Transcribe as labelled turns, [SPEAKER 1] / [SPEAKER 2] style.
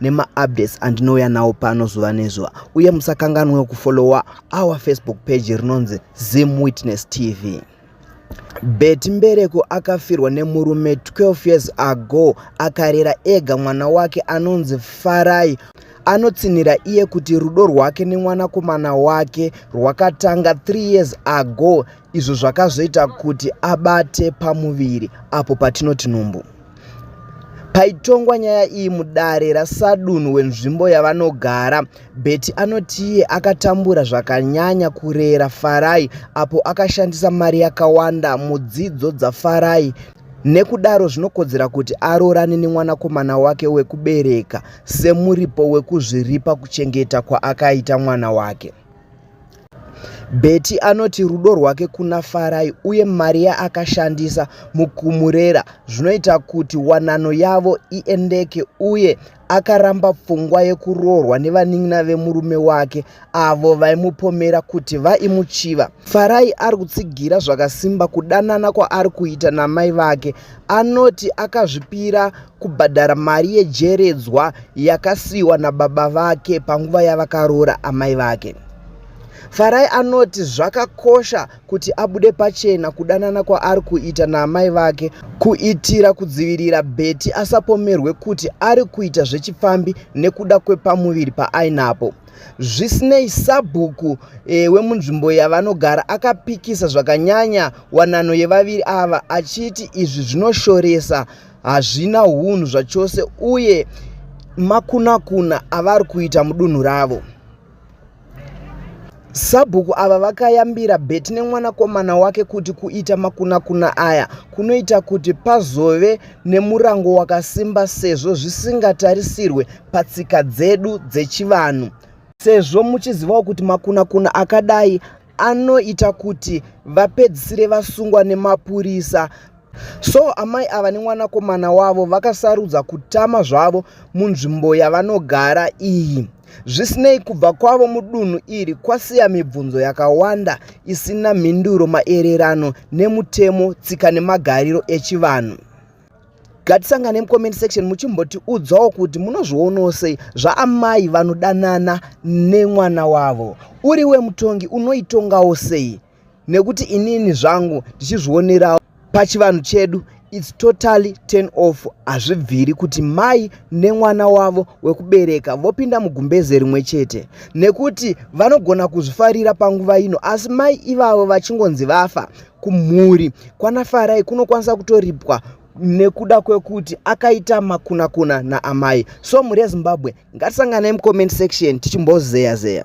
[SPEAKER 1] nemaupdates andinouya nawo pano zuva nezuva uye musakanganwewo kufollowa our facebook page rinonzi zim witness tv beti mbereko akafirwa nemurume 12 years ago akarera ega mwana wake anonzi farai anotsinhira iye kuti rudo rwake nemwanakomana wake rwakatanga 3 years ago izvo zvakazoita kuti abate pamuviri apo patinoti nhumbu Paitongwa nyaya iyi mudare rasadunhu wenzvimbo yavanogara, Betty anoti iye akatambura zvakanyanya kurera Farai apo akashandisa mari yakawanda mudzidzo dzaFarai nekudaro zvinokodzera kuti aroorane nemwanakomana wake wekubereka semuripo wekuzviripa kuchengeta kwaakaita mwana wake. Betty anoti rudo rwake kuna Farai uye mari yaakashandisa mukumurera zvinoita kuti wanano yavo iendeke uye akaramba pfungwa yekuroorwa nevanin'ina vemurume wake avo vaimupomera kuti vaimuchiva. Farai ari kutsigira zvakasimba kudanana kwaari kuita namai vake. Anoti akazvipira kubhadhara mari yejeredzwa yakasiyiwa nababa vake panguva yavakaroora amai vake. Farai anoti zvakakosha kuti abude pachena kudanana kwaari kuita naamai vake kuitira kudzivirira Betty asapomerwe kuti ari kuita zvechipfambi nekuda kwepamuviri paainapo. Zvisinei, sabhuku e, wemunzvimbo yavanogara akapikisa zvakanyanya wanano yevaviri ava achiti izvi zvinoshoresa hazvina hunhu zvachose uye makunakuna avari kuita mudunhu ravo sabhuku ava vakayambira beti nemwanakomana wake kuti kuita makunakuna aya kunoita kuti pazove nemurango wakasimba sezvo zvisingatarisirwe patsika dzedu dzechivanhu sezvo muchizivawo kuti makunakuna akadai anoita kuti vapedzisire vasungwa nemapurisa So amai ava nemwanakomana wavo vakasarudza kutama zvavo munzvimbo yavanogara iyi. Zvisinei kubva kwavo mudunhu iri kwasiya mibvunzo yakawanda isina mhinduro maererano nemutemo tsika nemagariro echivanhu. Gatisangane mucomment section muchimbotiudzawo kuti munozvionawo sei zvaamai vanodanana nemwana wavo. Uri wemutongi unoitongawo sei? nekuti inini zvangu ndichizvionerawo pachivanhu chedu its totally turn off hazvibviri kuti mai nemwana wavo wekubereka vopinda mugumbeze rimwe chete nekuti vanogona kuzvifarira panguva ino asi mai ivavo vachingonzi vafa kumhuri kwanafarai kunokwanisa kutoripwa nekuda kwekuti akaita makunakuna naamai so mhuri yezimbabwe ngatisanganei mucomment section tichimbozeya zeya